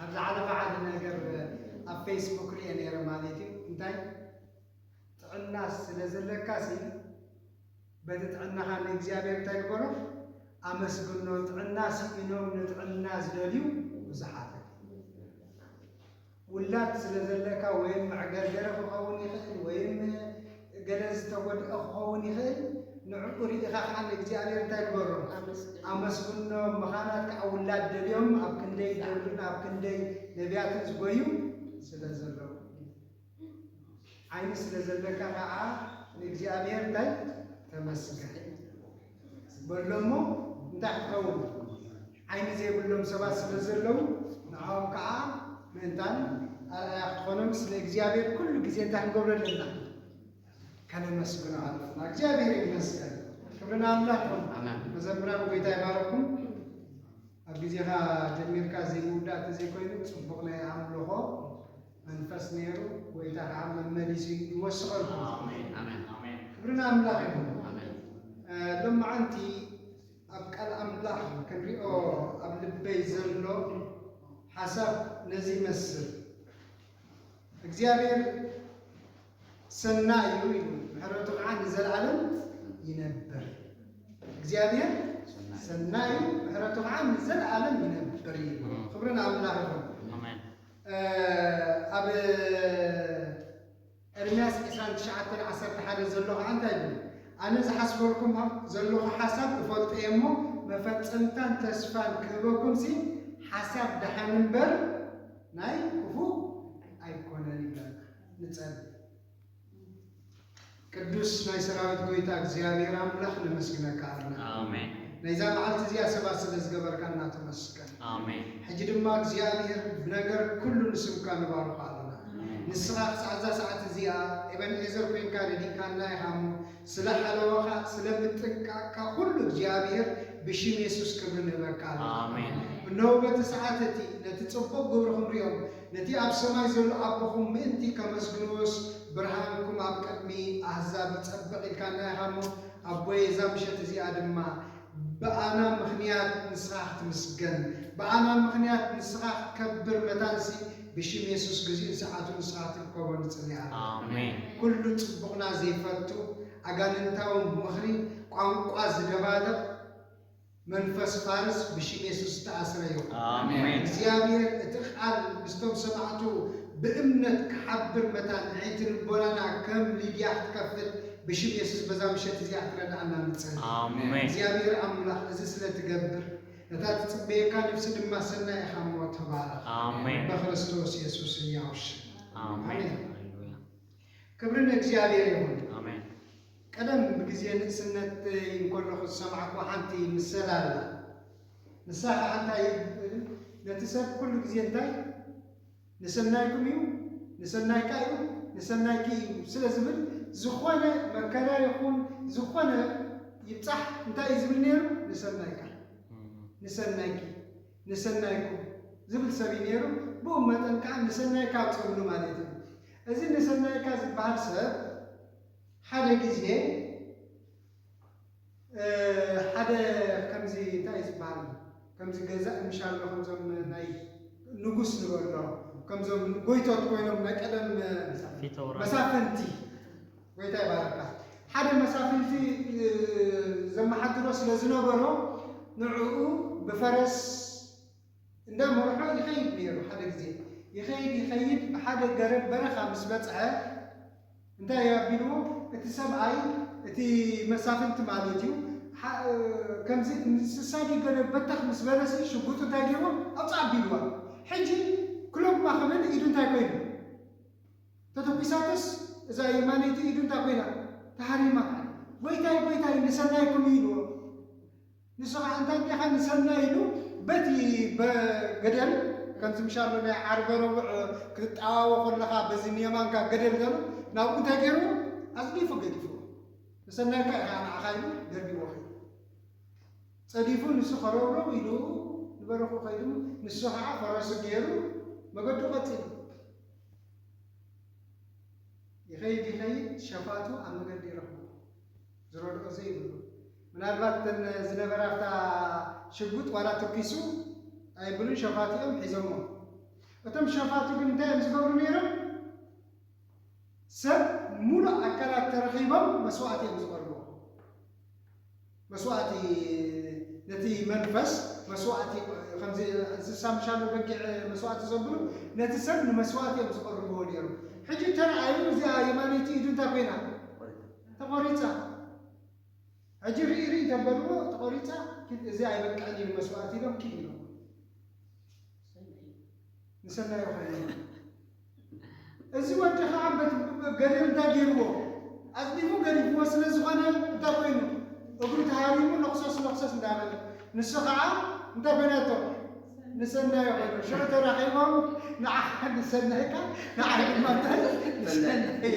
ኣብ ዝሓለፈ ሓደ ነገር ኣብ ፌስቡክ ሪኤ ነይረ ማለት እዩ እንታይ ጥዕና ስለ ዘለካ ሲ በቲ ጥዕናኻ ንእግዚኣብሔር እንታይ ግበሮ ኣመስግኖ ጥዕና ስኢኖም ንጥዕና ዝደልዩ ብዙሓት ውላድ ስለ ዘለካ ወይም መዕገርገሪ ክኸውን ይኽእል ወይም ገለ ዝተጎድኣ ክኸውን ይኽእል፣ ንዕኡ ርኢኻ ከኣ ንእግዚኣብሔር እንታይ ግበሮ? ኣመስግኖ። መኻናት ከኣ ውላድ ደልዮም ኣብ ክንደይ ደሉን ኣብ ክንደይ ነብያትን ዝጎዩ ስለ ዘለዉ እዩ። ዓይኒ ስለ ዘለካ ከኣ ንእግዚኣብሔር እንታይ? ተመስገን። በሎ'ሞ እንታይ ክኸውን ዓይኒ ዘይብሎም ሰባት ስለ ዘለዉ ንዖም ከኣ ምእንታን ኣርኣያ ክትኾኖም ስለ እግዚኣብሔር ኩሉ ግዜ እንታይ ክንገብሮ ኣለና ከነመስግኖ ኣለና እግዚኣብሔር ይመስገን ክብርን ኣምላኽ ይኹን መዘምራን ጎይታ ይባረኩም ኣብ ግዜኻ ጀሚርካ ዘይምውዳእ ተዘይኮይኑ ጽቡቕ ናይ ኣምልኾ መንፈስ ነይሩ ጎይታ ከዓ መመሊሱ ይወስቐልኩም ክብሪ ንኣምላኽ ይኹን ሎመዓንቲ ኣብ ቃል ኣምላኽ ክንሪኦ ኣብ ልበይ ዘሎ ሓሳብ ነዚ ይመስል እግዚኣብሔር ሰናይ እዩ ኢሉ ምሕረቱ ከዓ ንዘለዓለም ይነብር። እግዚኣብሔር ሰናይ እዩ ምሕረቱ ከዓ ንዘለዓለም ይነብር እዩ። ክብሪ ንኣምላኽ ይኹን። ኣሜን ኣብ ኤርምያስ 29 11 ዘሎ ከዓ እንታይ ይብል? ኣነ ዝሓስበልኩም ዘለኹ ሓሳብ እፈልጦ እየ እሞ መፈጸምታን ተስፋን ክህበኩም ሲ ሓሳብ ደሓን እምበር ናይ ክፉእ ኣይኮነን ይብለና። ንጸሊ። ቅዱስ ናይ ሰራዊት ጎይታ እግዚኣብሔር ኣምላኽ ነመስግነካ ኣለና። ኣሜን። ናይዛ መዓልቲ እዚኣ ሰባት ስለ ዝገበርካና ተመስገን። ኣሜን። ሕጂ ድማ እግዚኣብሔር ብነገር ኩሉ ንስምካ ንባርኾ ኣለና። ንስኻ ክሳዕ እዛ ሰዓት እዚኣ ኤበንዔዘር ኮይንካ ረዲእካና ኢኻ እሞ ስለ ሓለዋኻ ስለ ምጥንቃቕካ ኩሉ እግዚኣብሔር ብሽም የሱስ ክብሪ ንህበካ ኣለና። ኣሜን። እነሆ በቲ ሰዓት እቲ ነቲ ጽቡቕ ግብርኹም ሪኦም ነቲ ኣብ ሰማይ ዘሎ ኣቦኹም ምእንቲ ከመስግንዎስ፣ ብርሃንኩም ኣብ ቅድሚ ኣህዛብ ይጸብቕ ኢልካና ኢኻ እሞ፣ ኣቦየ እዛ ምሸት እዚኣ ድማ ብኣና ምኽንያት ንስኻ ክትምስገን፣ ብኣና ምኽንያት ንስኻ ክትከብር መታንሲ ብሽም የሱስ ግዚኡን ሰዓቱን ንስኻ ክትርከቦ ንጽሊ ኣለና። ኩሉ ጽቡቕና ዘይፈቱ፣ ኣጋንንታዊ ምኽሪ፣ ቋንቋ ዝደባልቕ፣ መንፈስ ፋርስ ብሽም የሱስ ዝተኣስረ ይኹን። እግዚኣብሔር እቲ ቃል ምስቶም ሰማዕቱ ብእምነት ክሓብር መታን ኣዒንቲ ልቦናና ከም ሊድያ ክትከፍት ብሽም የሱስ በዛ ምሸት እዚኣ ክረድኣና ንጽሊ። እግዚኣብሔር ኣምላኽ እዚ ስለ ትገብር ነታ ትጽበየካ ነፍሲ ድማ ሰናይ ኢኻ እሞ ተባረኽ በክርስቶስ የሱስ ህያው ሽም ኣሜን። ክብሪ ንእግዚኣብሔር ይኹን። ቀደም ብግዜ ንእስነተይ እንከለኹ ዝሰማዕኩዋ ሓንቲ ምሰል ኣላ። ንሳ ኸኣ እንታይ ትብል፣ ነቲ ሰብ ኩሉ ግዜ እንታይ ንሰናይኩም እዩ፣ ንሰናይካ እዩ፣ ንሰናይኪ እዩ ስለ ዝብል ዝኾነ መከራ ይኹን ዝኾነ ይብጻሕ እንታይ እዩ ዝብል ነይሩ፣ ንሰናይካ፣ ንሰናይኪ፣ ንሰናይኩም ዝብል ሰብ እዩ ነይሩ። ብኡ መጠን ከኣ ንሰናይካ ትብሉ ማለት እዩ። እዚ ንሰናይካ ዝበሃል ሰብ፣ ሓደ ግዜ ሓደ ከምዚ እንታይ እዩ ዝበሃል ከምዚ ገዛኢ ምሻሎ ከምዞም ናይ ንጉስ ንበሎ ከምዞም ጎይቶት ኮይኖም ናይ ቀደም መሳፍንቲ ጎይታ ይባረካ ሓደ መሳፍንቲ ዘመሓድሮ ስለ ዝነበሮ ንዕኡ ብፈረስ እንዳ መርሖ ይኸይድ ነይሩ ሓደ ግዜ ይኸይድ ይኸይድ ብሓደ ገረብ በረኻ ምስ በጽሐ እንታይ እዩ ኣቢልዎ እቲ ሰብኣይ እቲ መሳፍንቲ ማለት እዩ ከምዚ እንስሳ ድዩ ገረብ በተኽ ምስ በለሲ ሽጉጡ እንታይ ገይርዎ ኣብጽ ኣቢልዋ ሕጂ ክሎማ ክብል ኢዱ እንታይ ኮይኑ ተተኲሳትስ እዛ የማነይቲ ኢዱ እንታይ ኮይና ተሃሪማ ጎይታይ ጎይታይ ንሰናይኩም እዩ ኢልዎ ንሱ ኸኣ እንታይ ዲኻ ንሰናይ ኢሉ በቲ በገደል ከምዚ ምሻሎ ናይ ዓርበ ረቡዕ ክትጠዋወ ኮለኻ በዚ ንየማንካ ገደል ዘሎ ናብኡ እንታይ ገይርዎ ኣጽዲፉ ገዲፍዎ ንሰናይካ ኢኻ ንዓኻ ኢሉ ደርቢዎ ከይዱ ጸዲፉ ንሱ ከረውረው ኢሉ ንበረኹ ከይዱ ንሱ ኸኣ ፈረሱ ገይሩ መገዱ ቀጺሉ ይኸይድ ይኸይድ ሸፋቱ ኣብ መገዲ ይረኽቦ ዝረድኦ ዘይብሉ ምናልባት እተን ዝነበራ ኣብታ ሽጉጥ ዋላ ትኪሱ ኣይብሉን ሸፋቱ እዮም ሒዞሞ እቶም ሸፋቱ ግን እንታይ እዮም ዝገብሩ ነይሮም ሰብ ሙሉእ ኣካላት ተረኺቦም መስዋእቲ እዮም ዝበልዎ መስዋእቲ ነቲ መንፈስ መስዋእቲ ከምዚ እንስሳ ምሻሉ በጊዕ መስዋእቲ ዘብሉ ነቲ ሰብ ንመስዋእቲ እዮም ዝቐርብዎ ነይሩ ሕጂ ተረኣዩ እዚኣ የማነይቲ ኢዱ እንታይ ኮይና ተቆሪጻ ሕጂ ሪኢ ሪኢ ተበልዎ ተቆሪጻ ኪድ እዚ ኣይበቅዕን እዩ ንመስዋእቲ ኢሎም ኪድ ኢሎም ንሰናይ ኾይኑ እዚ ወዲ ከዓ ገሪር እንታይ ገይርዎ ኣጽዲፉ ገሪፍዎ ስለ ዝኾነ እንታይ ኮይኑ እግሩ ተሃሪሙ ነኽሰስ ነኽሰስ እንዳበለ ንሱ ከዓ እንታይ ኮይናቶ ንሰናይ ኮይኑ ሽዑ ተራኺቦም ንዓ ንሰናይካ ንዓ ድማ እንታይ ንሰናይ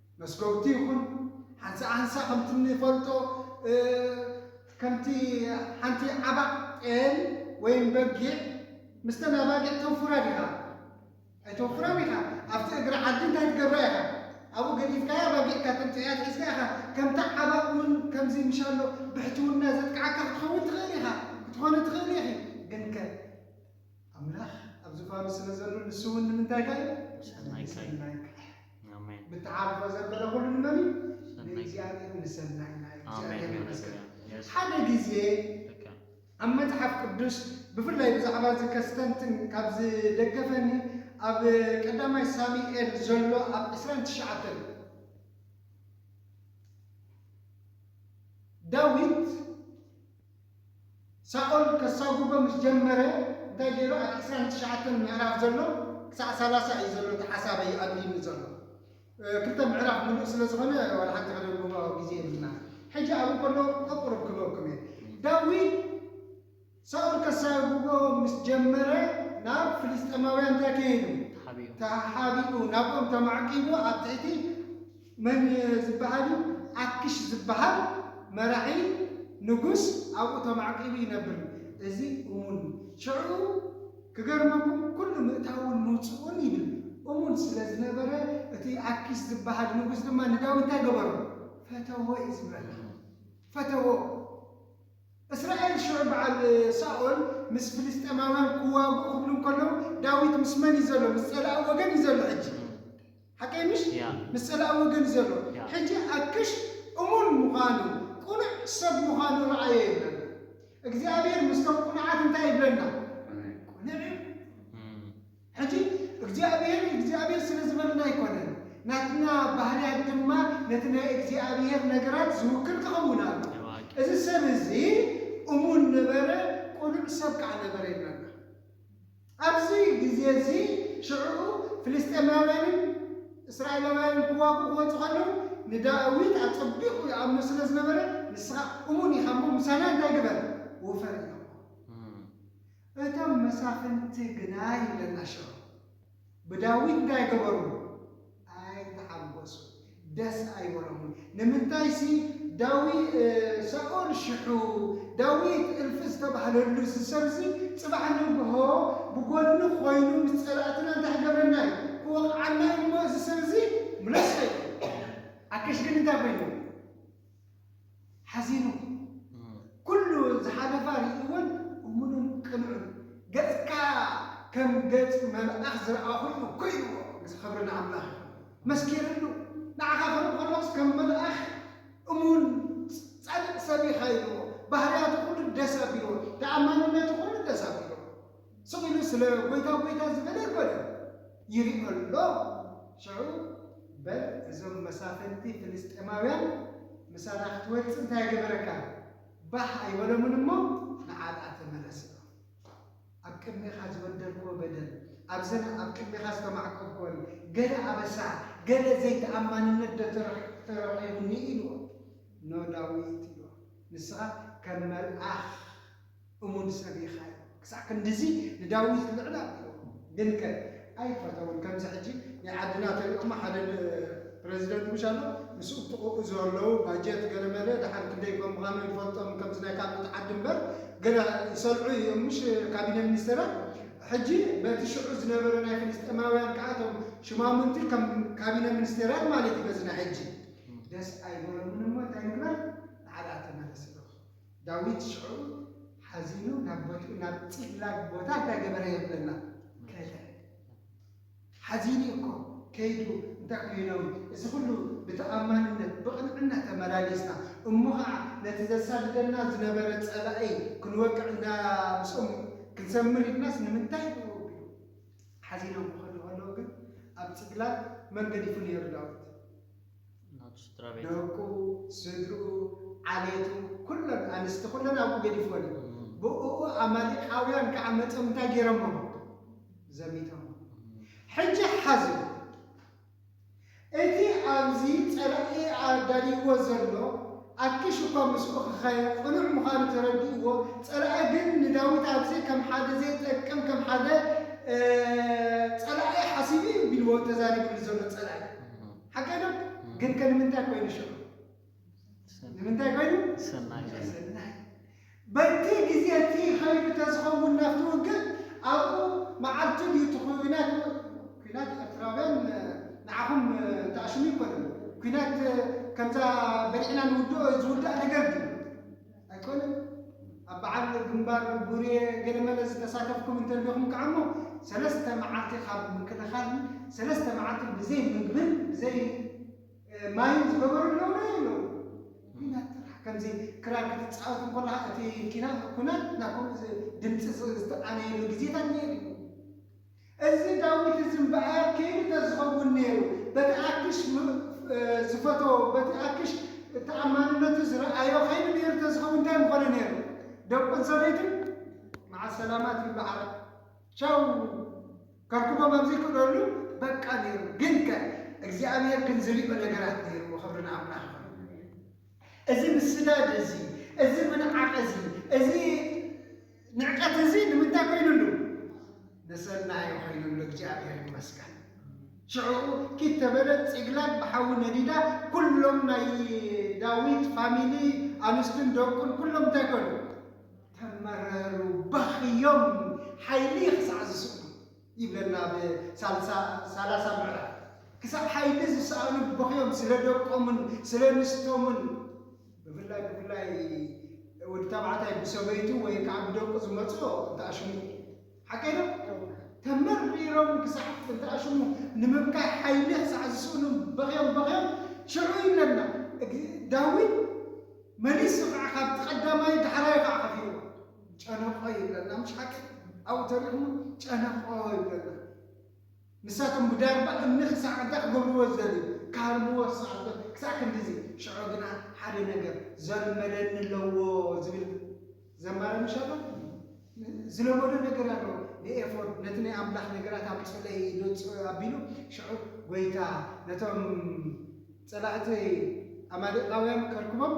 መስጎግቲ ይኹን ሓንሳእ ሓንሳእ ከምቲ እንፈልጦ ከምቲ ሓንቲ ዓባቕ ጤል ወይም በጊዕ ምስተን ኣባጊዕ ተውፍራ ዲኻ? ኣይተውፍራን ኢኻ። ኣብቲ እግሪ ዓዲ እንታይ ትገብራ ኢኻ? ኣብኡ ገዲፍካያ ኣባጊዕካ ተምጽእያ ኣትሒዝካ ኢኻ። ከምታ ዓባቕ እውን ከምዚ ምሻሎ ብሕትውና ዘጥቅዓካ ክትኸውን ትኽእል ኢኻ፣ ክትኾኒ ትኽእሊ ኢኺ። ግንከ? ኣምላኽ ኣብ ዙፋኑ ስለ ዘሎ ንሱ እውን ንምንታይካ እዩ? ንሰናይካ እዩ። ንሰናይካ እዩ። ኣሜን ብትዓርፎ ዘበለ ኩሉ ንመን እዩ? ሰናይካ እዩ። ንእግዚኣብሔር ንሰናይና እዩ። ኣሜን እግዚኣብሔር ይመስገን። ሃሌሉያ የስ ሓደ ግዜ ልክዕ ኣብ መጽሓፍ ቅዱስ ብፍላይ ብዛዕባ እዚ ከስተንትን ካብ ዝደገፈኒ ኣብ ቀዳማይ ሳሙኤል ዘሎ ኣብ 29 ዳዊት ሳኦል ከሳጉጎ ምስ ጀመረ እንታይ ገይሩ ኣብ ዕስራን ትሽዓተን ምዕራፍ ዘሎ ክሳዕ ሰላሳ እዩ ዘሎ እቲ ሓሳበይ ይኣድልዩኒ ዘሎ ክልተ ምዕራፍ ምሉእ ስለ ዝኾነ ዋላ ሓንቲ ከነንብቦ ግዜ የብልናን ሕጂ ኣብኡ ከለኹ ቀቁሩብ ክበኩም እየ ዳዊት ሳኦል ከሳጉጎ ምስ ጀመረ ናብ ፍልስጤማውያን እንታይ ከይዱ ተሓቢኡ ናብኦም ተማዕቂቡ ኣብ ትሕቲ መን ዝበሃል እዩ ኣኪሽ ዝበሃል መራሒ ንጉስ ኣብኡ ተማዕቂቡ ይነብር እዚ እሙን እዩ ሽዑ ክገርመኩም ኩሉ ምእታውን ምውጽኡን ይብል እሙን ስለ ዝነበረ እቲ ኣኪሽ ዝበሃል ንጉስ ድማ ንዳዊት እንታይ ገበሮ ፈተዎ እዩ ዝበል ፈተዎ እስራኤል ሽዑ በዓል ሳኦል ምስ ፍልስጤማውያን ክዋግኡ ክብሉ እንከለዉ ዳዊት ምስ መን እዩ ዘሎ ምስ ጸላኢ ወገን እዩ ዘሎ ሕጂ ሓቀይ ምሽ ምስ ጸላኢ ወገን ዘሎ ሕጂ ኣክሽ እሙን ምዃኑ ቁኑዕ ሰብ ምዃኑ ርኣዮ ይብለና እግዚኣብሄር ምስቶም ቁኑዓት እንታይ ይብለና ቁኑዕ እዩ ሕጂ እግዚኣብሄር እግዚኣብሄር ስለ ዝበለና ኣይኮነን ናትና ባህርያት ድማ ነቲ ናይ እግዚኣብሄር ነገራት ዝውክል ክኽውን ኣለዎ እዚ ሰብ እዚ እሙን ነበረ ቁኑዕ ሰብ ከኣ ነበረ ይብለና። ኣብዚ ግዜ እዚ ሽዕኡ ፍልስጤማውያንን እስራኤላውያንን ክዋግኡ ክመጹ ከለዉ ንዳዊት ኣጸቢቑ ይኣምኖ ስለ ዝነበረ ንስኻ እሙን ኢኻ እሞ ምሳና እንታይ ግበር ውፈር ኢሎሞ እቶም መሳፍንቲ ግና ይብለና ሽዑ። ብዳዊት ታይ ገበርዎ ኣይተሓጎሱ ደስ ኣይበሎምን ንምንታይሲ ዳዊ ሳኦል ሽሑ ዳዊት እልፊ ዝተባህለሉ እዚ ሰብዚ ፅባሕ ንግሆ ብጎኒ ኮይኑ ምስ ፀላእትና እንታይ ክገብረና እዩ ክወቅዓና እዩ እሞ እዚ ሰብዚ ምለሶ እዩ ኣከሽ ግን እንታይ ኮይኑ ሓዚኑ ኩሉ ዝሓለፋ ርእዩወን እሙንን ቅኑዕን ገጽካ ከም ገጽ መልኣኽ ዝረኣኹሉ ኮይኑዎ ምስ ክብሪ ንኣምላኽ መስኪርሉ ንዓኻ ክርኢ ከሎስ ከም መልኣኽ እሙን ጻድቕ ሰብ ኢኻ ኢሉዎ ባህርያቱ ኩሉ ደስ ኣቢሉዎ ተኣማንነቱ ኩሉ ደስ ኣቢሉዎ ስቕ ኢሉ ስለ ጐይታ ጐይታ ዝበለ ኣይኰነን ይርኢ ኣሎ። ሽዑ በል እዞም መሳፍንቲ ፍልስጥኤማውያን ምሳና ክትወጽእ እንታይ ገበረካ? ባህ ኣይበሎምን እሞ ንዓጣ ተመለሰ። ኣብ ቅድሜኻ ዝበደልክዎ በደል፣ ኣብዘን ኣብ ቅድሜኻ ዝተማዕቈብክወን ገለ ኣበሳ፣ ገለ ዘይተኣማንነትዶ ተረኺቡኒ? ኢልዎ። ን ዳዊት ኢልዎ፣ ንስኻ ከም መልኣኽ። እሙን ሰብ ኢኻ ኢሉ ክሳዕ ክንድዚ ንዳዊት ልዕል ኣቢልዎ ግንከ ኣይፈተዎን ከምዚ ሕጂ ናይ ዓድና ተሪኦማ ሓደ ፕረዚደንት ምሽ ኣሎ ምስ እብጥቁኡ ዘለው ባጀት ገለ መለ ድሓን ክንደይ ከምዃኑ ይፈልጦም ከምዚ ናይ ካልኦት ዓዲ እምበር ገለ ይሰልዑ እዮም ምሽ ካቢነ ሚኒስተራት ሕጂ በቲ ሽዑ ዝነበረ ናይ ፍልስጤማውያን ከኣ እቶም ሽማሙንቲ ከም ካቢነ ሚኒስቴራት ማለት እዩ በዚ ናይ ሕጂ ደስ ኣይበሎምን እሞ እንታይ ንግበር ንዓዳ ተመለስ ኢሎም ዳዊት ሽዑ ሓዚኑ ናብ ቦትኡ ናብ ጺቅላግ ቦታ እንዳ ገበረ የብለና ከደ። ሓዚኑ እዩ እኮ ከይዱ እንታይ ኮይኖም እዚ ኩሉ ብተኣማንነት ብቅንዕና ተመላሊስና እሞ ከኣ ነቲ ዘሳድደና ዝነበረ ጸላኢ ክንወቅዕ እንዳ ምስኦም ክንሰምር ኢልናስ ንምንታይ ኢሉ ወጊኡ ሓዚኖም ክከዱ ከለዉ ግን ኣብ ጺቅላግ መን ገዲፉ ኔሩ ዳዊት ደቁ፣ ስድርኡ፣ ዓሌቱ፣ ኩለን ኣንስቲ ኩለን ኣብኡ ገዲፍወን እዩ። ብእኡ ኣማሌቃውያን ከኣ መጺኦም እንታይ ገይሮሞም? ዘሚቶሞም። ሕጂ ሓዙ፣ እቲ ኣብዚ ጸላኢ ኣዳልይዎ ዘሎ ኣኪሽ እኳ ምስኡ ክኸይድ ቅኑዕ ምዃኑ ተረዲእዎ፣ ጸላኢ ግን ንዳዊት ኣብዚ ከም ሓደ ዘይጠቅም ከም ሓደ ጸላኢ ሓሲቡ እዩ ቢልዎ ተዛሪብሉ ዘሎ ጸላኢ። ሓቀይ ዶ ግን ከ ንምንታይ ኮይኑ ሽዑ ንምንታይ ኮይኑ ሰናይ ኮይኑ ሰናይ በቲ ግዜ እቲ ከይዱ ተዝኸውን ናብቲ ውግእ ኣብኡ መዓልቲ ድዩ እቲ ኩናት ኩናት ኤርትራውያን ንዓኹም ተኣሽሙ ኣይኮነን ኩናት ከምዛ በሊዕና ንውድኦ ዝውዳእ ነገር ድዩ ኣይኮነን ኣብ በዓል ግንባር ቡሬ ገለመለ ዝተሳተፍኩም እንተልዲኹም ከኣሞ ሰለስተ መዓልቲ ካብ ምክልኻልን ሰለስተ መዓልቲ ብዘይ ምግብን ብዘይ ማይን ዝገበሩ ኣለዉ ዶ የለዉ ኩናት ጥራሕ ከምዚ ክራር ክትፃወት እንኮለኻ እቲ ኩናት ናብ ከምኡ ድምፂ ዝተኣነየሉ ግዜታት ነይሩ እዩ እዚ ዳዊት እዚ እምበኣር ከይኑ ተዝኸውን ነይሩ፣ በቲ ኣኪሽ ዝፈተዎ፣ በቲ ኣኪሽ ተኣማንነቱ ዝረኣዮ ከይኑ ነይሩ ተዝኸውን እንታይ ምኾነ ነይሩ? ደቁን ሰበይቱን መዓስ ሰላማት ይበዓል ቻው ከርክቦም ኣብ ዘይክእለሉ በቃ ነይሩ። ግንከ እግዚኣብሄር ግን ዝሪኦ ነገራት ነይርዎ። ክብሪ ንኣምላኽ ይኹን። እዚ ምስዳድ እዚ፣ እዚ ምንዓቕ እዚ፣ እዚ ንዕቀት እዚ ንምንታይ ኮይኑሉ? ንሰናዩ ኮይኑሉ፣ እግዚኣብሔር ይመስገን። ሽዕኡ ኪድ ተበለ ጺግላግ ብሓዊ ነዲዳ፣ ኩሎም ናይ ዳዊት ፋሚሊ ኣንስቱን ደቁን ኩሎም እንታይ ኮኑ? ተመረሩ፣ በኽዮም፣ ሓይሊ ክሳዕ ዝስእኑ። ይብለና ኣብ ሳላሳ ምዕራፍ። ክሳብ ሓይሊ ዝሰኣኑ በኽዮም ስለ ደቆምን ስለ ኣንስቶምን ብፍላይ ብፍላይ ወዲ ተባዕታይ ብሰበይቱ ወይ ከዓ ብደቁ ዝመፅኦ እንትኣሽሙ እዩ። ሓቀይ ዶ? ተመሪሮም ክሳዕ እንትኣሽሙ ንምብካይ ሓይሊ ክሳዕ ዝስእኑ በኽዮም በኽዮም ሽዑ ይብለና ዳዊት መሊሱ ከዓ ካብቲ ቀዳማይ ዳሕራዩ ከዓ ከፊልዎ። ጨነቆ ይብለና ምሽ ሓቂ ኣብኡ ተሪኽሞ ጨነቆ ይብለና ንሳቶም ብዳርባ እምኒ ክሳዕ እንታይ ክገብርዎ ዝደልዩ ክሃርምዎ ዝሰዓቶ ክሳዕ ክንድዚ ሽዑ ግና ሓደ ነገር ዘልመደኒ ኣለዎ ዝብል ዘማሪ ምሽ ኣሎ ዝለመዶ ነገር ኣሎ ንኤፎድ ነቲ ናይ ኣምላኽ ነገራት ኣምፅለይ ኢሉ ኣቢሉ ሽዑ ጎይታ ነቶም ፀላእቲ ኣማሌቃውያን ከርክቦም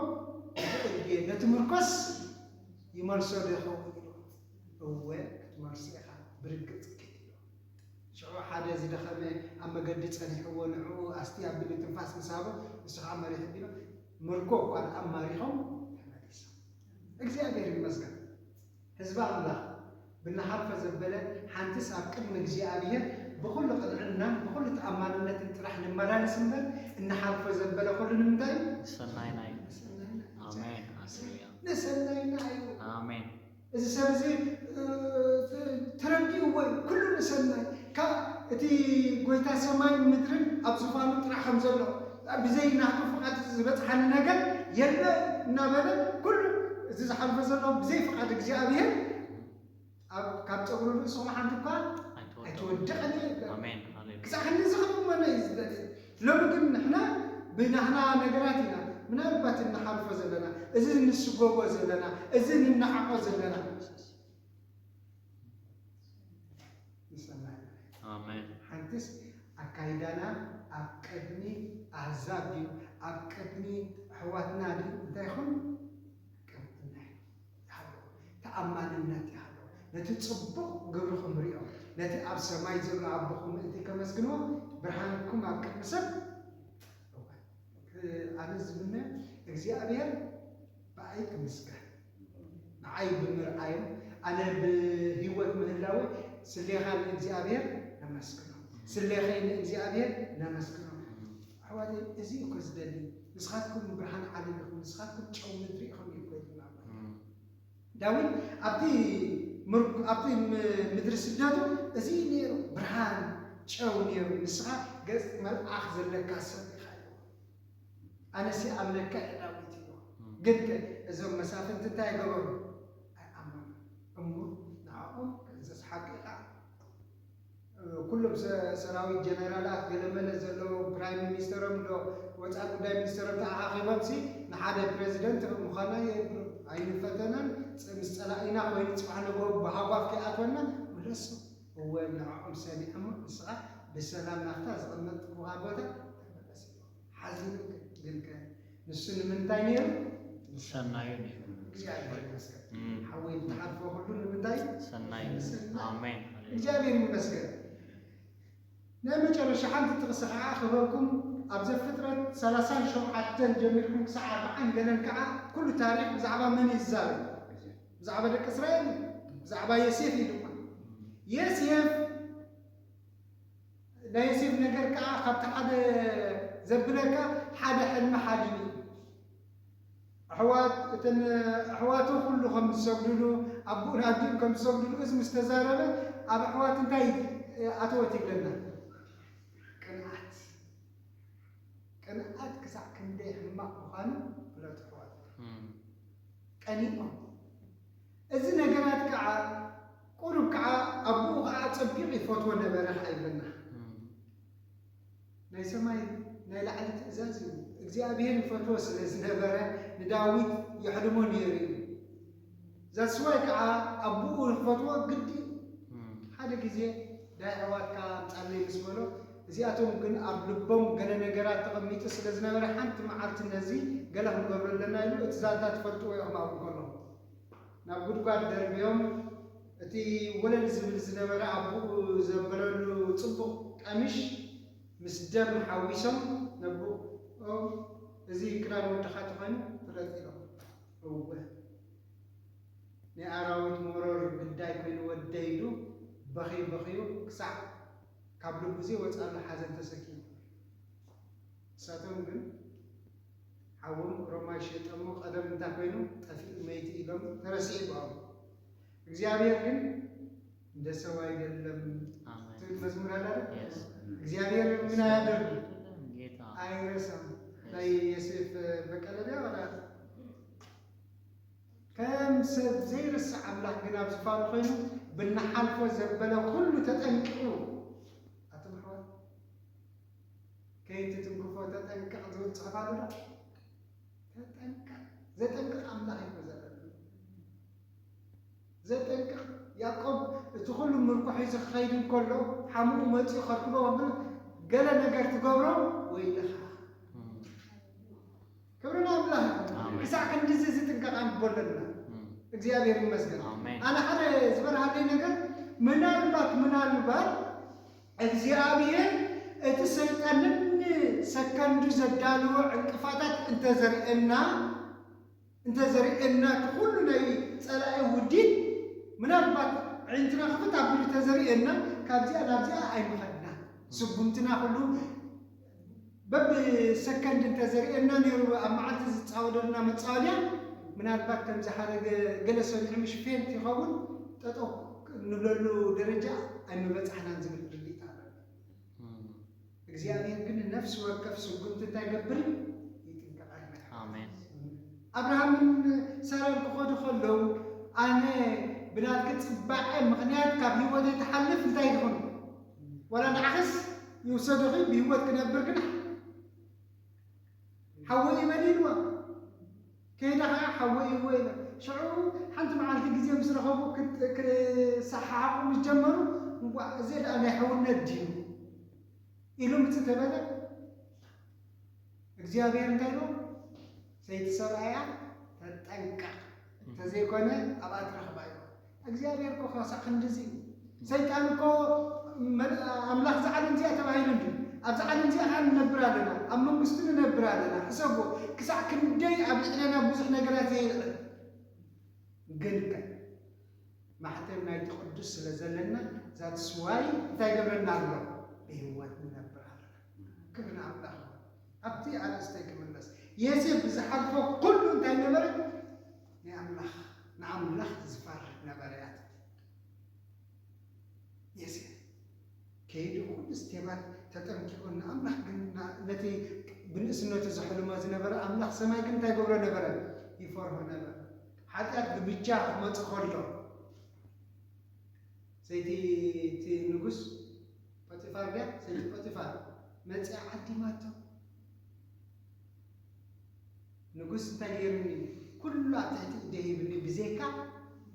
ይኽእል ድየ ነቲ ምርኮስ ይመልሶ ዶ ይኸውን ኢልኩ? እወ ክትመልሶ ኢኻ ብርግጽ ኪድ ኢሎ። ሽዑ ሓደ ዝደኸመ ኣብ መገዲ ጸኒሕዎ ንዕኡ ኣስትይ ኣቢሉ ትንፋስ ምስ ሃቦ ንሱ ኸኣ መሪሕ ኣቢሉ ምርኮ እኳ ደኣ ማሪኾም ተመሊሶም። እግዚኣብሔር ይመስገን ህዝቢ ኣምላኽ! ብንሓልፎ ዘበለ ሓንትስ ኣብ ቅድሚ እግዚኣብሄር ብዅሉ ቕንዕናን ብዅሉ ተኣማንነትን ጥራሕ ንመላለስ እምበር፣ እንሓልፎ ዘበለ ዅሉ ንምንታይ እዩ? ንሰናይና እዩ። ንሰናይና እዩ። እዚ ሰብ እዚ ተረዲእዎ እዩ፣ ኵሉ ንሰናይ። ካብ እቲ ጐይታ ሰማይን ምድርን ኣብ ዝፋኑ ጥራሕ ከም ዘሎ፣ ብዘይ ናቱ ፍቓድ ዝበጽሓኒ ነገር የለን እናበለ ኩሉ እዚ ዝሓልፎ ዘሎ ብዘይ ፍቓድ እግዚኣብሄር ኣብ ካብ ጸጉሪ ርእስኹም ሓንቲ እኳ ኣይትወድቕን እያ ይብለና። ኣሜን ሃሌሉያ ክሳዕ ክንድዚ ክንእመኖ እዩ ዝደሊ። ሎሚ ግን ንሕና ብናህና ነገራት ኢና ምናልባት እንሓልፎ ዘለና፣ እዚ እንስጎጎ ዘለና፣ እዚ እንነዓቖ ዘለና። ይሰማዕ ማለት ኣሜን ሓንትስ ኣካይዳና ኣብ ቅድሚ ኣህዛብ ድዩ ኣብ ቅድሚ ኣሕዋትና ድዩ እንታይ ይኹን ቅንዕና ይሃልዎ ተኣማንነት ይሃልዎ ነቲ ጽቡቕ ግብርኹም ሪኦም ነቲ ኣብ ሰማይ ዘሎ ኣቦኹም ምእንቲ ከመስግንዎ ብርሃንኩም ኣብ ቅድሚ ሰብ እወ፣ እ- ኣነ ዝምነ እግዚኣብሔር ብኣይ ክምስገን ንዓይ ብምርኣይን ኣነ ብህይወት ምህላወይ ስሌኻ ንእግዚኣብሔር ነመስግኖ ስሌኸይ ንእግዚኣብሔር ነመስግኖ ኣሕዋተይ እዚ እዩ እኮ ዝደሊ ንስኻትኩም ብርሃን ዓለም ኢኹም ንስኻትኩም ጨው ምድሪ ኢኹም እዩ እኮ ይብልና ዳዊት ኣብቲ ምር- ኣብቲ ም- ምድሪ ስደቱ እዚ እዩ ነይሩ ብርሃን ጨው ነይሩ ንስኻ ገጽ መልኣኽ ዘለካ ሰብ ኢኻ ኢልዎ ኣነሲ ኣምለካ እየ ዳዊት ኢልዎ ግን ከ እዞም መሳፍንቲ እንታይ ገበሩ ኣይኣመኑን እሞ ንዕኦም ክእዘዝ ሓቂ ካዓ ኩሎም ሰራዊት ጀነራላት ገለመለ ዘለዎም ፕራይም ሚኒስተሮም ዶ ወፃኢ ጉዳይ ሚኒስተሮም ተኣኻኺቦም ሲ ንሓደ ፕረዚደንት ምዃና የብሉ ኣይንፈተናን ምስ ፀላኢና ኮይኑ ፅባሕ ንግሆ ብሃጓፍ ከይኣትወና ምለሶ እወ ንዕኦም ሰሚዖሞ ንስኻ ብሰላም ናፍታ ዝቐመጥኩዋ ቦታ ተመለስ ኢልዎ ሓዚኑ ግን ከ ንሱ ንምንታይ ነይሩ? ንሰናዩ ነይሩ። እግዚኣብሔር ይመስገን እም፣ ሓወይ ትሓልፎ ኩሉ ንምንታይ ሰናይ ንሰናይ። ኣሜን ሃሌሉያ። እግዚኣብሔር ይመስገን ናይ መጨረሻ ሓንቲ ጥቕሲ ከዓ ክበኩም ኣብ ዘፍጥረት 37 ጀሚርኩም ክሳዕ ኣርብዓን ገለን ከዓ ኩሉ ታሪክ ብዛዕባ መን እዩ ዝዛረብ ብዛዕባ ደቂ እስራኤል እዩ። ብዛዕባ የሴፍ እዩ ድማ የሴፍ ናይ ዮሴፍ ነገር ከኣ ካብቲ ሓደ ዘብለካ ሓደ ሕልሚ ሓሊሙ እዩ። ኣሕዋት እተን ኣሕዋቱ ኩሉ ከም ዝሰግድሉ ኣቡኡን ኣዲኡን ከም ዝሰግድሉ እዚ ምስ ተዛረበ ኣብ ኣሕዋት እንታይ ኣተወት ይብለና ቅንኣት ቅንኣት ክሳዕ ክንደይ ሕማቕ ምዃኑ ፍለጡ ኣሕዋት ቀኒኦም እዚ ነገራት ከኣ ቁሩብ ከኣ ኣቡኡ ከኣ ኣጸቢቁ ይፈትዎ ነበረ ከኣ ይብለና ናይ ሰማይ ናይ ላዕሊ ትእዛዝ እዩ እግዚኣብሄር ይፈትዎ ስለ ዝነበረ ንዳዊት የሕልሞ ነይሩ እዩ ዛስዋይ ከኣ ኣቡኡ ክፈትዎ ግዲ እዩ ሓደ ግዜ ዳይ ኣሕዋትካ ኣምጻለይ ምስ በሎ እዚኣቶም ግን ኣብ ልቦም ገለ ነገራት ተቐሚጡ ስለ ዝነበረ ሓንቲ መዓልቲ ነዚ ገለ ክንገብሮ ኣለና ኢሉ እቲ ዛንታ ትፈልጥዎ ኢኹም ኣብኡ ከሎ ናብ ጉድጓድ ደርብዮም እቲ ወለል ዝብል ዝነበረ ኣቡኡ ዘበለሉ ጽቡቕ ቀሚሽ ምስ ደም ሓዊሶም ነቡኦም እዚ ክዳን ወድኻ ተኾይኑ ፍለጥ ኢሎም እወ ናይ ኣራዊት መሮር ግዳይ ኮይኑ ወደይ ኢሉ በኽዩ በኽዩ ክሳዕ ካብ ልቡ ዘይወጽኣሉ ሓዘን ተሰኪሙ እሳቶም ግን ሓዎም ሮማይ ሸይጠሞ ቀደም እንታይ ኮይኑ ጠፊኡ መይቱ ኢሎም ተረሲዑ ብኣም እግዚኣብሔር ግን እንደ ሰው አይደለም ትብል መዝሙር አለ እግዚአብሔር ምን አያደርግ አይረሳም ላይ የሴፍ በቀለ ቢያ ወላ ከም ሰብ ዘይርስዕ ኣምላኽ ግን ኣብ ዝፋኑ ኮይኑ ብናሓልፎ ዘበለ ኩሉ ተጠንቅቑ ኣቶም ኣሕዋት ከይትትንክፎ ተጠንቀቕ ዝብል ጽሑፍ ኣሎ ዶ? ተጠንቀቕ ዘጠንቅቕ ኣምላኽ እዩ እኮ ዘለኒ ዘጠንቅቕ ያዕቆብ እቲ ኩሉ ምርኮ ሒዙ ክኸይድ እንከሎ ሓሙኡ መጺኡ ከርክቦ ከሎ ገለ ነገር ትገብሮ ወይልኻ ክብሪ ንኣምላኽ ይኹን ኣሜን። ክሳዕ ክንድዚ እዚ ጥንቃቐ ኣንግቦ ኣለና እም፣ እግዚኣብሔር ይመስገን ኣሜን። ኣነ ሓደ ዝበርሃለይ ነገር ምናልባት ምናልባት እግዚኣብሔር እቲ ሰይጣንን ን ሰከንዱ ዘዳለዎ ዕንቅፋታት እንተ ዘርእየና እንተ ዘርእየና ክኩሉ ናይ ጸላኢ ውዲት ምናልባት ኣዒንትና ክፍት ኣቢሉ ተዘርእየና ካብዚኣ ናብዚኣ ኣይምከድናን ስጉምትና ኩሉ በብ ሰከንድ እንተ ዘርእየና ኔሩ ኣብ መዓልቲ ዝጻወደልና መጻወድያ ምናልባት ከም ዝሓረገ ገለ ሰሚዑ ምሽ ፌንት ይኸውን ጠጠው እንብለሉ ደረጃ ኣይምበጻሕናን ዝብል ርድኢት ኣሎኒ። እግዚኣብሄር ግን ንነፍሲ ወከፍ ስጉምቲ እንታይ ይገብር ይጥንቀቐልና። ኣብርሃምን ሳራን ክኸዱ ከለዉ ኣነ ብናትኪ ጽባቐ ምኽንያት ካብ ህይወተይ ትሓልፍ እንታይ ይኹን ዋላ ንዓኽስ ይውሰዱኺ ብሂወት ክነብር ግና ሓወይ ይበሊ ኢልዋ ከይዳ ከዓ ሓወይ እወ ኢላ ሽዑ ሓንቲ መዓልቲ ግዜ ምስ ረኸቡ ክሰሓሓቑ ምስ ጀመሩ እንኳዕ እዚ ደኣ ናይ ሕውነት ድዩ ኢሉ ምፅ ተበለ እግዚኣብሔር እንታይ ኢሎም ሰይቲ ሰብኣያ ተጠንቀቅ ተዘይኮነ ኣብኣ ትረኽባ ኢኻ እግዚኣብሔር እኮ ከሳዕ ክንድዚ ሰይጣን እኮ ኣምላኽ ዝዓለም እዚኣ ተባሂሉ እንዲ ኣብዚ ዓለም እዚኣ ከዓ ንነብር ኣለና ኣብ መንግስቱ ንነብር ኣለና ሕሰቦ ክሳዕ ክንደይ ኣብ ልዕለና ብዙሕ ነገራት የልዕል ግን ከ ማሕተም ናይቲ ቅዱስ ስለ ዘለና ዛትስዋይ እንታይ ገብረና ኣሎ ብህይወት ንነብር ኣለና ክብር ኣምላኽ ኣብቲ ኣርእስተይ ክምለስ፣ ዬሴፍ ብዝሓልፎ ኩሉ እንታይ ነበረ? ናይ ኣምላኽ ንኣምላኽ ዝፈርህ ነበረ እያ ትብል። ዬሴፍ ከይዱ ኩሉ ስቴባት ተጠንቂቁ ንኣምላኽ ግን ነቲ ብንእስነቱ ዘሕልሞ ዝነበረ ኣምላኽ ሰማይ ግን እንታይ ገብሮ ነበረ? ይፈርሆ ነበረ። ሓጢኣት ብብቻ ክመጽእ ከሎ ሰይቲ እቲ ንጉስ ጶጢፋር ድያ ሰይቲ ጶጢፋር መጺኣ ዓዲማቶ። ንጉስ እንታይ ገይሩኒ እዩ ኩሉ ኣብ ትሕቲ ኢደይ ሂብኒ ብዘይካ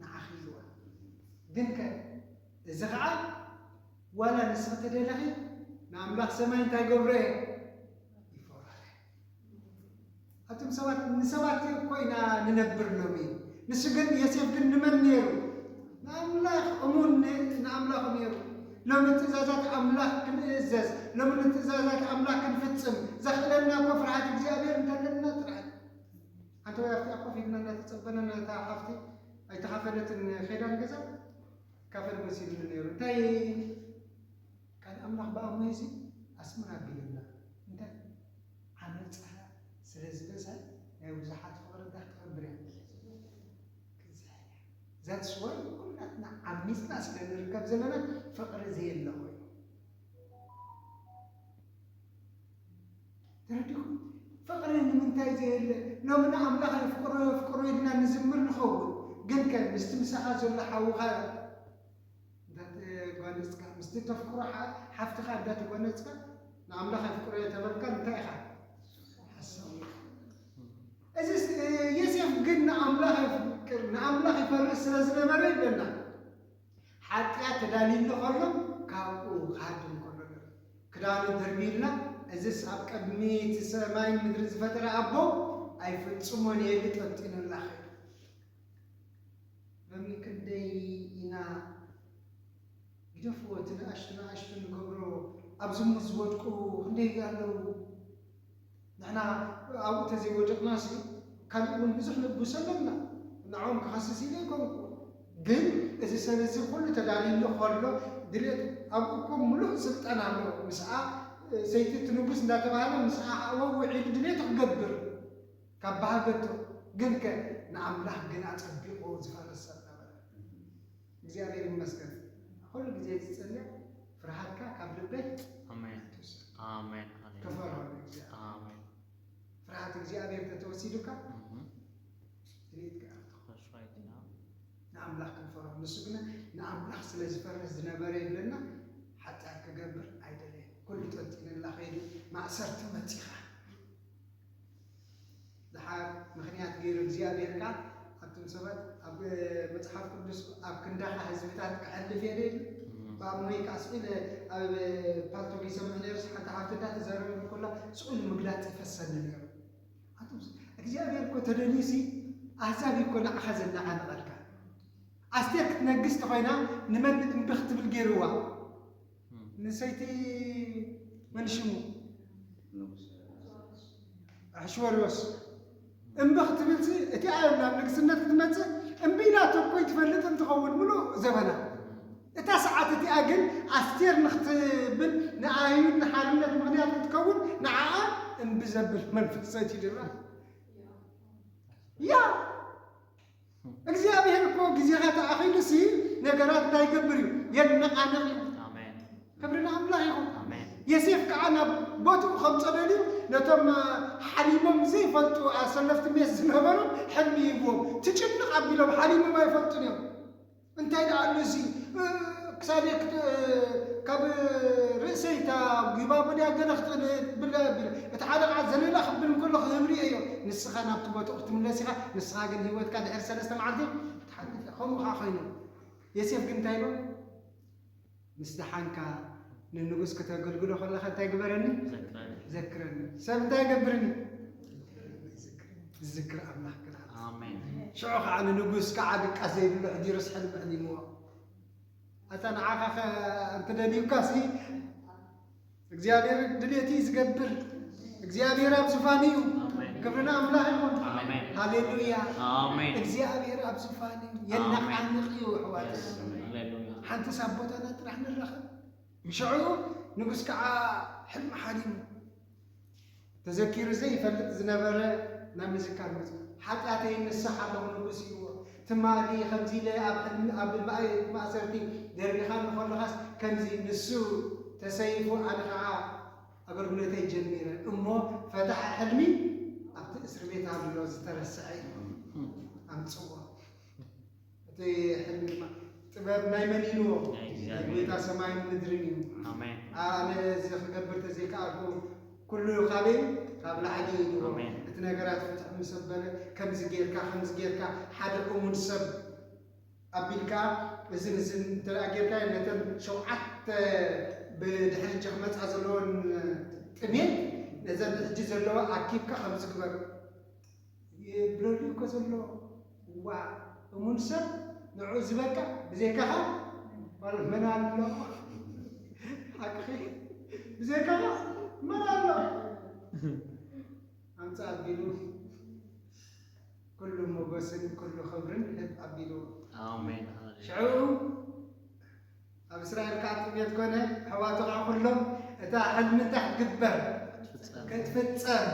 ንዓኺ ኢልዋ። ግንከ እዚ ኸዓ ዋላ ንስኺ ተደለኺ ንኣምላኽ ሰማይ እንታይ ገብሮ እየ ይፈርሖ እየ። ኣቱም ሰባት ንሰባት እኮ ኢና ንነብር ሎሚ። ንሱ ግን ዮሴፍ ግን ንመን ነይሩ? ንኣምላኽ እሙን ንኣምላኹ ነይሩ። ሎሚ ትእዛዛት ኣምላኽ ክንእዘዝ፣ ሎሚ ንትእዛዛት ኣምላኽ ክንፍጽም ዘኽእለና እኮ ፍርሃት እግዚኣብሔር እንተለና ጥራሕ። ሓንቲ ወይ ኣብቲኣ ኮፍ ኢልና እናተጸበና ነታ ሓፍቲ ኣይተኻፈለትን ኼዳን ገዛ ካፈል መሲሉኒ ነይሩ እንታይ ቃል ኣምላኽ ብኣማይ እዚ ኣስምር ኣቢሉና እንታይ ዓመጽካ ስለ ዝበዝሐ ናይ ብዙሓት ፍቅሪ ጋህ ትከብር እያ ክትዝሕል እያ ዛትስ ዋይ ኩላትና ዓሚጽና ስለ ንርከብ ዘለና ፍቅሪ ዘየለ ኮይኑ ተረዲኩም ፍቅሪ ንምንታይ ዘየለ ሎሚ ንኣምላኽ የፍቅሮ የፍቅሮ ኢልና ንዝምር ንኸውን ግን ከ ምስቲ ምሳኻ ዘሎ ሓውኻ እንተተጎነጽካ፣ ምስቲ እተፍቅሮ ሓፍትኻ እንተተጎነጽካ፣ ንኣምላኽ የፍቅሮ እየ ተበልካ እንታይ ኢኻ ሓሳዊ ኢኻ። እዚ ዮሴፍ ግን ንኣምላኽ የፍቅር ንኣምላኽ ይፈርስ ስለ ዝነበረ ይብለና ሓጢኣት ተዳልዩሉ ከሎ ካብኡ ክሃድም ከሎ ንርኢ ክዳኑ ደርቢዩልና እዚስ ኣብ ቅድሚ እቲ ሰማይን ምድሪ ዝፈጠረ ኣቦ ኣይፍጽሞን የሊ ጠንጢኑላ ኸይዱ ሎሚ ክንደይ ኢና ግደፍዎ እቲ ንኣሽቱ ንኣሽቱ ንገብሮ ኣብ ዝሙት ዝወድቁ ክንደይ ኣለዉ ንሕና ኣብኡ ተዘይወደቅናሲ ካልእ እውን ብዙሕ ንጉስ ኣለና ንዕኦም ክኸስስ ኢለ ኣይኮንኩ ግን እዚ ሰብ እዚ ኩሉ ተዳልዩሉ ከሎ ድሌት ኣብኡ እኮ ሙሉእ ስልጣን ኣሎ ምስኣ ሰይቲ እቲ ንጉስ እንዳተባህለ ምስኣ ሓእወ ውዒሉ ድሌቱ ክገብር ካብ በሃገቱ ግንከ ንኣምላኽ ግን ኣጸቢቑ ዝፈርህ ሰብ ነበረ። እግዚኣብሔር ይመስገን ኩሉ ግዜ ዝጽለ ፍርሃትካ ካብ ልበይ ኣሜን ኣይትውሰድ ኣሜን ሃሌሉያ ክፈርሆ ንእግዚኣብሔር ኣሜን ፍርሃት እግዚኣብሔር ተተወሲዱካ እም፣ ትርኢትካ ኢኻ that's right yeah ንኣምላኽ ክንፈርሆ ንሱ ግና ንኣምላኽ ስለ ዝፈርህ ዝነበረ ይብለና ሓጢኣት ክገብር ኣይደለየን ኩሉ ጠንጢነላ ከይዱ ማእሰርቲ መጺኻ ድሓር ምክንያት ገይሩ እግዚኣብሔር ካኣ ኣቱም ሰባት ኣብ መጽሓፍ ቅዱስ ኣብ ክንዳኻ ህዝብታት ክሐልፍ እየ ዶ ኢሉ ባእ ሞይካ ኣስዒለ ኣብ ፓልቶክ ይሰምዕ ነይሩ ሓንቲ ሓብቲ እንዳ ተዛረበኒ ኮላ ስኡን ምግላጽ ይፈሰኒ ነይሩ ኣቱም እግዚኣብሔር እኮ ተደልዩሲ ኣህዛብ እኮ ንዓኻ ዘናዓንቐልካ ኣስቴር ክትነግስ ተኾይና ንመን እምቢ ክትብል ገይርዋ ንሰይቲ መን ሽሙ ኣሕሽወርዮስ እምቢ ክትብልሲ እቲ ኣዮም ናብ ንግስነት ክትመፅእ እምቢ ኢላቶ እኮ ይትፈልጥ እንትኸውን ምሉእ ዘበና እታ ሰዓት እቲኣ ግን ኣስቴር ንክትብል ንኣይሁድ ንሓርነት ምክንያት ክትከውን ንዓኣ እምቢ ዘብል መንፈስ ሰዲድላ ያ እግዚኣብሔር እኮ ግዜኻ ተኣኺሉሲ ነገራት እንታይ ይገብር እዩ የነቓንቕ እዩ። ክብሪ ንኣምላኽ ይኹን። የሴፍ ከዓ ናብ ቦትኡ ከምጾ ደልዩ ነቶም ሓሪሞም ዘይፈልጡ ኣሰለፍቲ ሜስ ዝነበሩ ሕልሚ ሂብዎም። ትጭንቕ ኣቢሎም ሓሪሞም ኣይፈልጡን እዮም። እንታይ ደኣ ኣሎ እዚ ክሳደይ ካብ ርእሰይ እታ ጊባቦ ድያ ገለ ክትብል እቲ ሓደ ከዓ ዘለላ ክብል እንከሎ ክህብ ርእየዮ ንስኻ ናብቲ ቦትኡ ክትምለስ ኢኻ ንስኻ ግን ህይወትካ ድሕሪ ሰለስተ መዓልቲ ክትሓልፍ ኢኻ ከምኡ ከዓ ኮይኑ ዮሴፍ ግን እንታይ ኢሉ ምስ ደሓንካ ንንጉስ ክተገልግሎ ከለኻ እንታይ ግበረኒ? ዘክረኒ። ሰብ እንታይ ይገብርኒ? ዝዝክር ኣምላኽ ግራት ሽዑ ከዓ ንንጉስ ከዓ ድቃስ ዘይብሉ ሕዲሩስ ሕልሚ ሕሊምዎ ኣታ ንዓኻ እንትደልዩካ ሲ እግዚኣብሔር ድሌቲ ዝገብር እግዚኣብሔር ኣብ ዙፋን እዩ። ክብርና ኣምላኽ ይኹን። ሃሌሉያ። እግዚኣብሔር ኣብ ዙፋን እዩ። የናቃንቅ እዩ ኣሕዋት። ሓንቲ ሳብ ቦታና ጥራሕ ንራኸብ ንሸዑ ንጉስ ከዓ ሕልሚ ሓሊሙ ተዘኪሩ ዘይፈልጥ ዝነበረ ናብ ምዝካር መጹ። ሓጢኣተይ ንስሕ ኣለኹ ንጉስ ኢልዎ። ትማሊ ከምዚ ኢለ ኣብ ሕልሚ ኣብ ማእሰርቲ ደርቢኻኒ ከሎኻስ ከምዚ ንሱ ተሰይፉ ኣነ ከኣ ኣገልግሎተይ ጀሚረ እሞ ፈታሒ ሕልሚ ኣብቲ እስርቤት ኣሎ ዝተረስዐ ኢልዎ ኣምጽዎ። እቲ ሕልሚ ድማ ጥበብ ናይ መን እዩ ንዎ ናይ ናይ እግዚኣብሔር። ጎይታ ሰማይን ምድርን እዩ ኣሜን ኣነ እዚ ክገብር ተዘይከኣልኩ ኩሉ ካበይ እዩ? ካብ ላዕሊ እዩ ንዎ ኣሜን። እቲ ነገራት ፍትሕ ምስ ኣበለ ከምዚ ጌርካ ከምዚ ጌርካ ሓደ እሙን ሰብ ኣቢልካ እዝን እዝን እንተ ደኣ ጌርካዮ ነተን ሸውዓተ ብድሕሪ ሕጂ ክመጻ ዘለወን ጥሜት ነዘን ሕጂ ዘለዋ ኣኪብካ ከምዚ ግበር የብለሉ እኮ ዘሎ ዋ እሙን ሰብ ንዑ ዝበቅዕ ብዘይካኻ ማለት መን ኣሎ ሓቅኺ ብዘይካኻ መን ኣሎ ኣምፃ ኣቢሉ ኩሉ ሞገስን ኩሉ ክብርን ህብ ኣቢሉ ሽዑ ኣብ እስራኤል ከኣ ጥሜት ኮነ፣ ኣሕዋቱ ከኣ ኩሎም እታ ሕልሚ እንታይ ክትግበር ክትፍጸም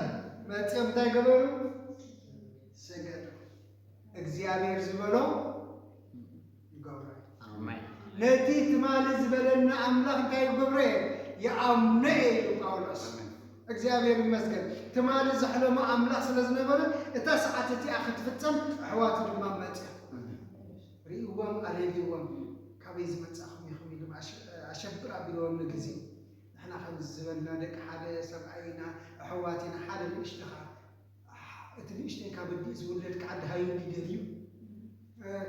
መጺኦም እንታይ ገበሩ? ሰገዱ። እግዚኣብሔር ዝበሎ ይገብሮ እዩ። ነቲ ትማሊ ዝበለና ኣምላኽ እንታይ ይገብሮ እየ ይኣምኖ እየ ኢሉ ጳውሎስ። እግዚኣብሔር ይመስገን ትማሊ ዘሕለሞ ኣምላኽ ስለ ዝነበረ እታ ሰዓት እቲኣ ክትፍጸም ኣሕዋቱ ድማ መጺኦም ሪእዎም ኣልየልዎም ድዩ ካበይ ዝመጻእኹም ኢኹም ኢሉ ኣሸብር ኣቢልዎም ንግዜ ንሕና ከምዚ ዝበልና ደቂ ሓደ ሰብኣይ ኢና ኣሕዋት ኢና ሓደ ንእሽቶ ከኣ እቲ ንእሽተይ ካብ ኣዲኡ ዝውለድ ከኣ ደሃዩ እንዲ ደልዩ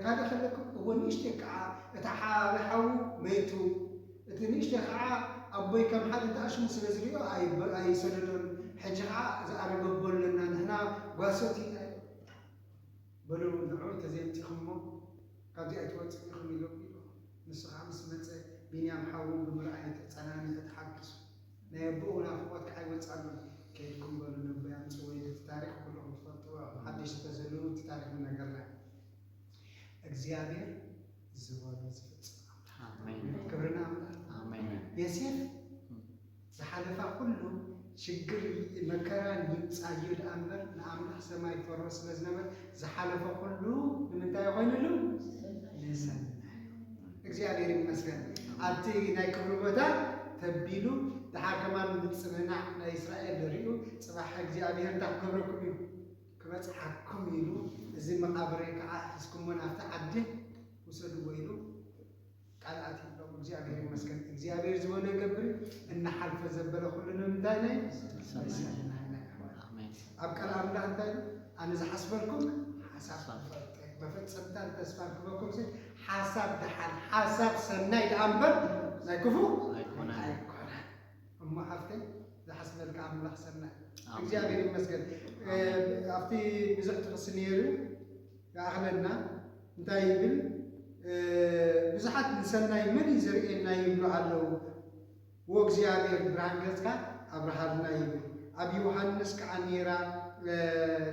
ካልእ ከለኩም እወ ንእሽተይ ከዓ እቲ ሓበ ሓዉ መይቱ እቲ ንእሽተይ ከዓ ኣቦይ ከም ሓደ ተኣሽሙ ስለ ዝሪኦ ኣይሰደዶን ሕጂ ከዓ ዝኣረገቦ ኣለና ንሕና ጓሶት ኢና በሎም እንተ ዓወት ተዘየምጺኹሞ ካብዚ ኣይትወጽን ኢኹም ኢሎም ኢሎም ንሱ ከኣ ምስ መጸ ቢንያም ሓዉ ብምርኣዩ ተጸናኒዑ ተሓጊሱ ናይ ኣቡኡ ናፍቆት ከኣ ኣይወጽኣሉን ከይድኩም በሉ ነቦይ ኣምጽእዎ ኢሉ እቲ ታሪኽ ኩሉኹም ትፈልጥዎ ኢኹም ሓደሽቲ ተዘለዉ እቲ ታሪኽ ንነገርና ኢና እግዚኣብሔር ዝበሎ ዝፍጽም ኣሜን ክብሪ ንኣምላኽ። ኣሜን ዮሴፍ ዝሓለፋ ኩሉ ሽግር መከራን ይምጻዩ ደኣ እምበር ንኣምላኽ ሰማይ ይፈርሆ ስለ ዝነበር ዝሓለፈ ኩሉ ንምንታይ ኮይኑሉ ንሰናዩ እግዚኣብሔር ይመስገን ኣብቲ ናይ ክብሪ ቦታ ተቢሉ ድሓር ከማን ምጽንናዕ ናይ እስራኤል ርእዩ ጽባሕ እግዚኣብሔር እንታይ ክገብረኩም እዩ ክበጽሓኩም ኢሉ እዚ መቓብረይ ከኣ ሒዝኩሞ ናብቲ ዓዲ ውሰድዎ ኢሉ ቃል ኣትዩሎም። እግዚኣብሔር ይመስገን። እግዚኣብሔር ዝበሎ ይገብር እዩ። እናሓልፈ ዘበለ ኩሉ ንምንታይ ናይ ሰናይ። ሰናይ ናይ ኣሕዋት። ኣሜን ኣብ ቃል ኣምላኽ እንታይ ኢሉ? ኣነ ዝሓስበልኩም ሓሳብ ክፈልጥ እየ፣ መፈጸምታን ተስፋን ክበኩም ሲ ሓሳብ ደሓን ሓሳብ ሰናይ ደኣ እምበር ናይ ክፉእ ኣይኮነን። ኣይኮነን። እሞ ሓፍተይ ዝሓስበልኪ ኣምላኽ ሰናይ ኣሜን። እግዚኣብሔር ይመስገን እ፣ ኣሜን። ኣብቲ ብዙሕ ጥቕሲ ነይሩ ይኣኽለና እንታይ ይብል እ፣ ብዙሓት ንሰናይ መን እዩ ዘርእየና ይብሉ ኣለዉ ወእግዚኣብሔር ብርሃን ገጽካ ኣብርሃልና ይብል ኣብ ዮሃንስ ከዓ ነይራ እ፣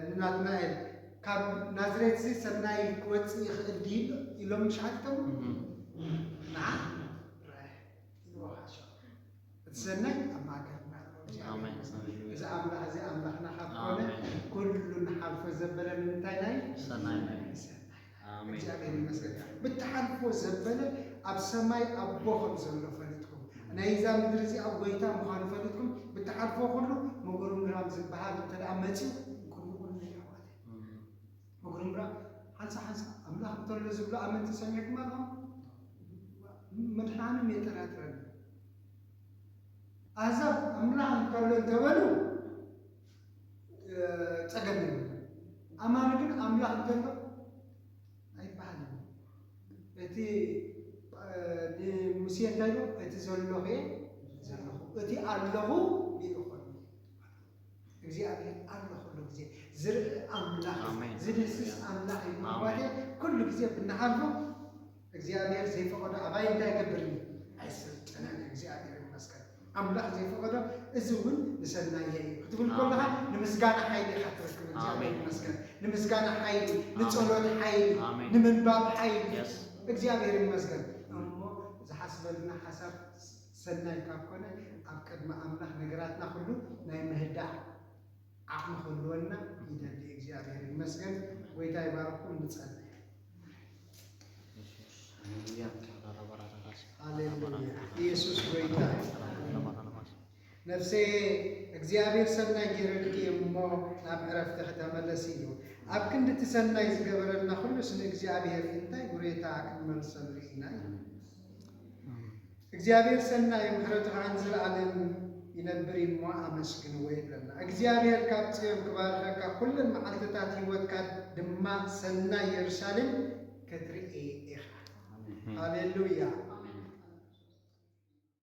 ንናትናኤል ካብ ናዝሬት እዚ ሰናይ ክወፅእ ይኽእል ድዩ ኢሎም ሸዓቲቶም እም። ንዓ ይወሃሶም እቲ ሰናይ ኣብ ማእከልና ኣሎ እግዚኣብሔር ይመስገን። እዚ ኣምላኽ እዚ ኣምላኽና ካብ ኮነ ኩሉ ንሓልፎ ዘበለ ንምንታይ ናይ ሰናይ ናይ ሰናይ ኣሜን እግዚኣብሔር ይመስገን ብትሓልፎ ዘበለ ኣብ ሰማይ ኣቦ ከም ዘሎ ፈሊጥኩም ናይ እዛ ምድሪ እዚኣ ጎይታ ምዃኑ ፈሊጥኩም ብትሓልፎ ኩሉ መጎርምራም ዝበሃል እንተ ደኣ መጺኡ ቅድሚ ኩሉ ይሕዋት ምጉርምራም ሓንሳእ ሓንሳእ ኣምላኽ እንተሎ ዝብሉ ኣመንቲ ሰሚዕኩም ኣለኹም? ምድሓኖም የጠራጥረኒ። ኣህዛብ ኣምላኽ እንተሎ እንተበሉ ጸገም የብሉ። ኣማኒ ግን ኣምላኽ እንተሎ ኣይበሃልን። እቲ ንሙሴ እንታይ ኢሉ እቲ ዘለኹ እየ ዘለኹ እቲ ኣለኹ እግዚኣብሔር ኣሎ ኩሉ ግዜ ዝርኢ ኣምላኽ ኣሜን። ዝድህስስ ኣምላኽ እዩ ኣሜን። ምባቴ ኩሉ ግዜ ብናሓልፎ እግዚኣብሔር ዘይፈቐዶ ኣባይ እንታይ ገብር እዩ ኣይሰልጠነን እዩ እግዚኣብሔር ይመስገን ኣምላኽ ዘይፈቐዶ እዚ እውን ንሰናየ እዩ ክትብል ከለኻ ንምስጋና ሓይሊ ኢኻ ትረክብ እግዚኣብሔር ኣሜን። ይመስገን ንምስጋና ሓይሊ ንጸሎት ሓይሊ ኣሜን። ንምንባብ ሓይሊ Yes. እግዚኣብሔር ይመስገን እሞ ዝሓስበልና ሓሳብ ሰናይ ካብ ኮነ ኣብ ቅድሚ ኣምላኽ ነገራትና ኩሉ ናይ ምህዳእ ዓቅሚ ክህልወና ይደሊ እግዚኣብሔር ይመስገን ጎይታ ይባርኩም ንጸሊ። ሃሌሉያ ኢየሱስ ጎይታ ነፍሰየ እግዚኣብሔር ሰናይ ጌረልኪ እየ እሞ ናብ ዕረፍቲ ክተመለሲ እዩ ኣብ ክንዲ እቲ ሰናይ ዝገበረልና ኩሉስ ንእግዚኣብሔር እንታይ ጉሬታ ክንመልሰሉ ኢና እዩ እግዚኣብሔር ሰናይ ምሕረቱ ከዓ ንዘለዓለም ይነብር እዩ እሞ ኣመስግንዎ ይብለና። እግዚኣብሔር ካብ ጽዮን ክባርኸካ ኩለን መዓልትታት ህይወትካ ድማ ሰናይ የሩሳሌም ክትርኢ ኢኻ። ሃሌሉያ